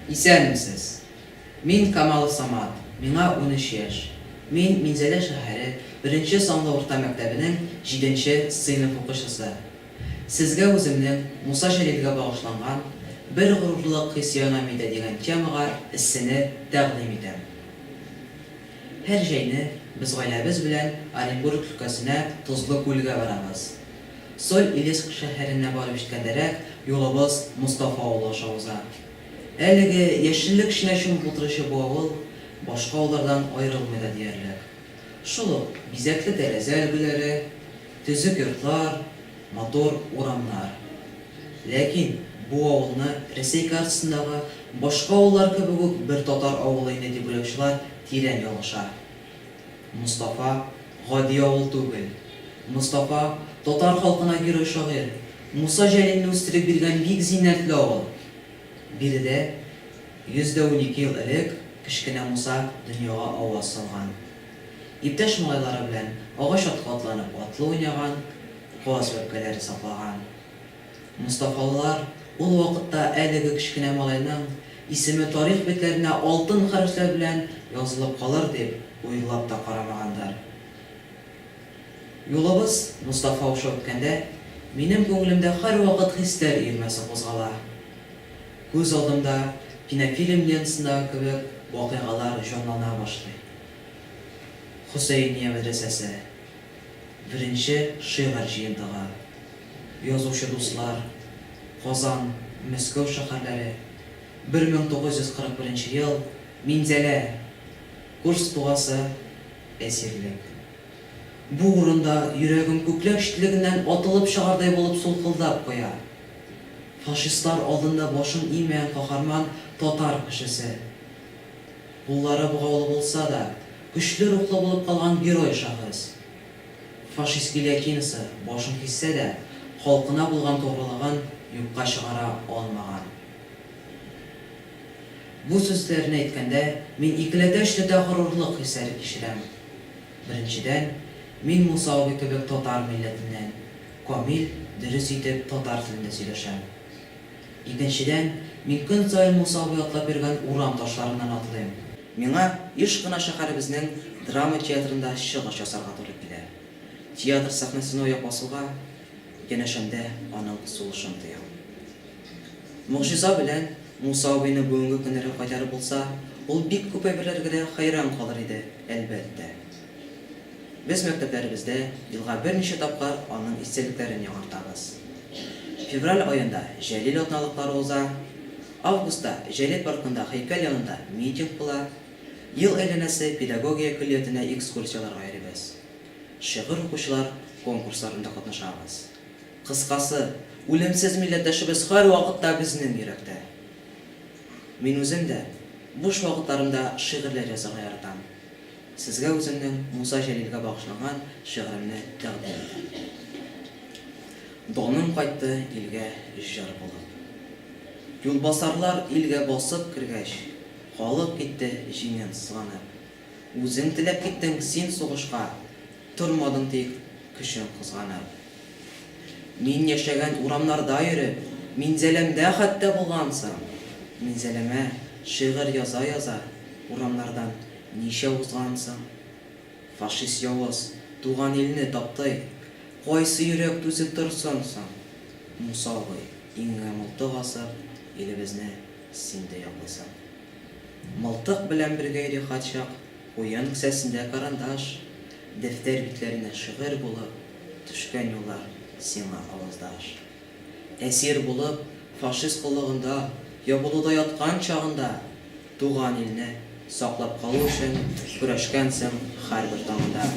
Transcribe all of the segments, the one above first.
Исәнмесез! Мин Камалов Самат, миңа унөч яшь. Мин Минзәлә шәһәре беренче санлы урта мәктәбенең җиденче сыйныф укучысы. Сезгә үземнең Муса Җәлилгә багышланган Бер горурлык хисианамидә дигән темага эссене тәкъдим итәм. Һәр җәйне без гаиләбез белән Оренбург өлкәсенә Тозлы күлгә барабыз. Соль-Илецк шәһәренә барып җиткәндәрәк юлыбыз Мостафа авылы аша уза. Әлеге яшеллек эченә чумып утыручы бу авыл башка авыллардан аерылмый да диярлек. Шул ук бизәкле тәрәзә өлгеләре, төзек йортлар, матур урамнар. Ләкин бу авылны Рәсәй картасындагы башка авыллар кебек үк бер татар авылы инде дип уйлаучылар тирән ялгыша. Мостафа, гади авыл түгел. Мостафа, татар халкына герой-шагыйрь Муса Җәлилне үстереп биргән бик зиннәтле авыл. Биредә 112 ел элек кечкенә Муса дөньяга аваз салган. Иптәш малайлары белән агач аткы атланып атлы уйнаган, каз бәбкәләре саклаган. Мостафалылар ул вакытта әлеге кечкенә малайның исеме тарих битләренә алтын хәрефләр белән язылып калыр дип уйлап та карамаганнар. Юлыбыз Мостафа аша үткәндә, минем күңелемдә һәрвакыт хисләр өермәсе кузгала. Күз алдымда кинофильм лентасындагы кебек вакыйгалар җанлана башлый. Хөсәения мәдрәсәсе. Беренче шигырь җыентыгы Язучы дуслар, Казан, Мәскәү шәһәрләре, 1941 ел, Минзәлә, Курск дугасы, Әсирлек. Бу урында йөрәгем күкләр читлегеннән атылып чыгардай булып сулкылдап куя. Фашистлар алдында башын иемәгән каһарман татар кешесе. Куллары богаулы булса да, Көчле рухлы булып калган герой шагыйрс. Фашист Гильотинасы башын киссә дә, халкына булган тугрылыгын юкка чыгара алмаган. Бу сүзләрне әйткәндә, мин икеләтә-өчләтә горурлык хисләре кичерәм. Беренчедән, мин Муса абый кебек татар милләтеннән, камил, дөрес итеп татар телендә сөйләшәм. Икенчедән, мин көн саен Муса абый атлап йөргән урам ташларыннан атлыйм. Миңа еш кына шәһәребезнең драма театрында чыгыш ясарга туры килә. Театр сәхнәсенә аяк басуга, янәшәмдә аның сулышын тоям. Могҗиза белән Муса абыйны бүгенге көннәргә кайтарып булса, ул бик күп әйберләргә дә хәйран калыр иде, әлбәттә. Без мәктәпләребездә елга берничә тапкыр аның истәлекләрен яңартабыз. Февраль аенда Җәлил атналыклары уза. Августта Җәлил паркында һәйкәл янында митинг була, ел әйләнәсе педагогия көллиятенә экскурсияләргә йөрибез, шигырь укучылар конкурсларында катнашабыз. Кыскасы, үлемсез милләттәшебез һәрвакытта безнең йөрәктә. Мин үзем дә буш вакытларымда шигырьләр язарга яратам. Сезгә үземнең Муса Җәлилгә багышланган шигыремне тәкъдим итәм. Даным кайтты илгә җыр булып. Юлбасарлар илгә басып кергәч, халык китте җиңен сызганып. Үзең теләп киттең син сугышка, тормадың тик көчең кызганып. Мин яшәгән урамнарда йөреп, Минзәләмдә хәтта булгансың. Минзәләмә шигырь яза-яза, урамнардан Ничә узган соң? Фашист явыз, туган илне таптый. Кайсы йөрәк түзеп торсын соң? Муса абый, иңеңә мылтык асып, илебезне син дә яклыйсың. Мылтык белән бергә йөри качак, уен кесәсендә карандаш, дәфтәр битләренә шигырь булып төшкән юллар сиңа аваздаш. Әсир булып, фашист коллыгында, ябылуда яткан чагында. Туган илне саклап калу өчен көрәшкәнсең хәрбер таңда.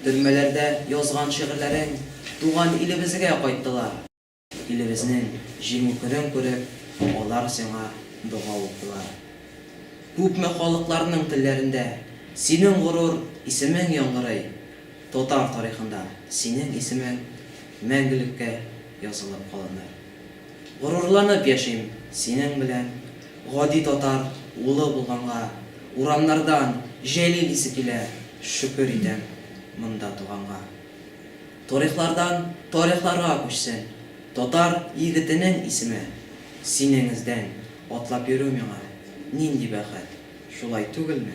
Төрмәләрдә язган шигырьләрең туган илебезгә кайттылар. Илебезнең җиңү көнен күреп, алар сиңа дога уктылар. Күпме халыкларның телләрендә синең горур исемең яңгырый, татар тарихында синең исемең мәңгелеккә язылып калыныр. Горурланып яшим синең белән. Гади татар улы булганга, урамнардан Җәлил исе килә, шөкер итәм монда туганга. Торихлардан тарихларга күчсен татар егетенең исеме, синең эздән атлап йөрү миңа нинди бәхет, шулай түгелме?